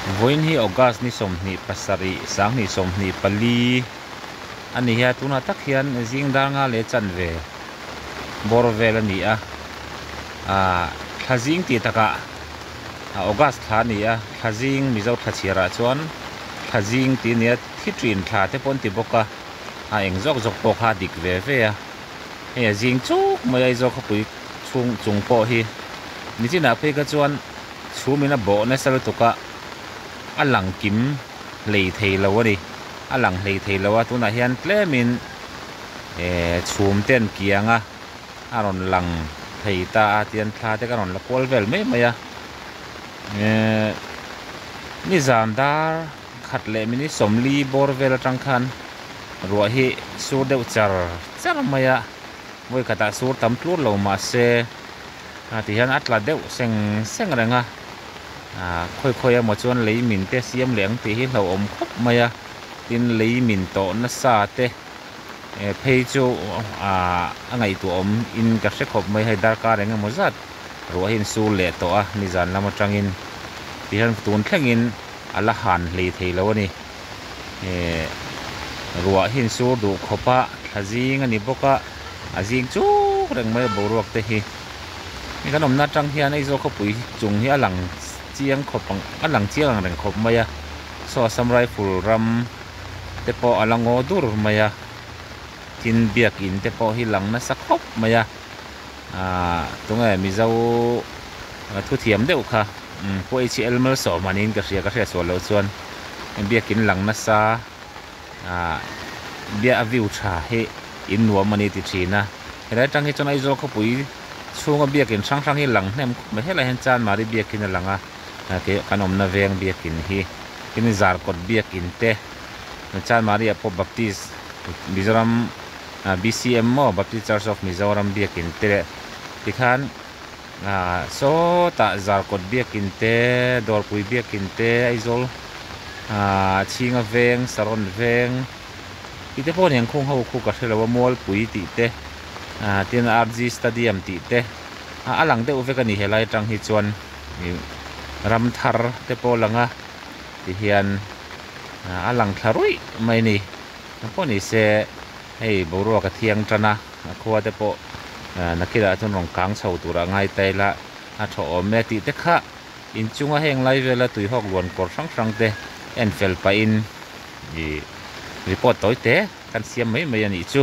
Vawiin hi August ni sawmhnih pasarih sanghnih sawmhnih pali a ni a, tunah tak hian zingdar nga leh chanve bawr vel a ni a. Thlazing tih takah August thla a ni a, thlazing Mizo thlachiarah chuan thlazing tih a ni a, thi ṭin thla te pawh an ti bawk a, a eng zawk zawk pawh kha dik ve ve a. Hei a zing chuk mai a Aizawl khawpui chhung chung pawh hi. Nichinah phei kha chuan. Chhumin a bawh nasa lutuk a, a lang kim hlei thei lo a ni, a lang hlei thei lo a, tunah hian tlemin eh chhum ten kianga a rawn lang thei ta a tian thla te ka rawn la kual vel mai mai a, eh nizan dar khat leh mini sawmli bawr vel atang khan ruah hi sur deuh char char mai a, vawi khatah sur tam tlur lo mahse, a ti hian a tla deuh seng seng reng a ah khawi khawi a maw chuan lei min te siam leh ang tih hi hlauhawm khawp mai a tin lei min tawh na sa te eh phei chu ah a ngaihtuah awm in ka hre khawp mai hei darkar eng emaw zat ruah hi in sul leh tawh a nizan lam atangin ti hian tun thlengin a la han hlei thei lo a ni. eh ruah hi in sur duh khawp a tha zing a ni bawk a a zing chuk reng mai a boruak te hi hei kan awmna atang hian aizawl khawpui chung hi a lang chiang khawp ang a lang chiang ang reng khawp mai a saw assam rifle ram te pawh a la ngaw dur mai a tin biak in te pawh hi lang nasa khawp mai a. Ahh tunge mizo thu thiam deuh kha pawh hlc malsawm han in ka hria ka hriatsual loh chuan biak in lang nasa ahh biak a view tha hi in nuam ani ti thin a helai atang hi chuan aizawl khawpui chhunga biak in hrang hrang hi lang hnem khawp mai helai ah hian chan mari biak in a lang a ke kan awmna veng biak in hi tin zarkawt biak in te chan mari ah pawh baptist mizoram-- BCM maw Baptist Church of Mizoram biakin te leh tikhan sawtah zar kawt biakin te, dawrpui biakin te, Aizawl chhinga veng, Saron veng tihte pawh a ni ang, khung ho khu ka hre lo a, Mualpui tih te, tin RG Stadium tih te a lang deuh vek a ni, helai atang hi chuan Ramthar te pawh a lang a tihian a lang thla ruih mai a ni. A pawh nise hei boruaka thiang tana a khua te pawh nakira chuan rawn kang chho tura a ngai ta ila a tho awm e tih te kha inchunga heng lai vela tuihawk luan kawr hrang hrang te en fel pah in ih report tawi te kan siam mai mai a nih chu.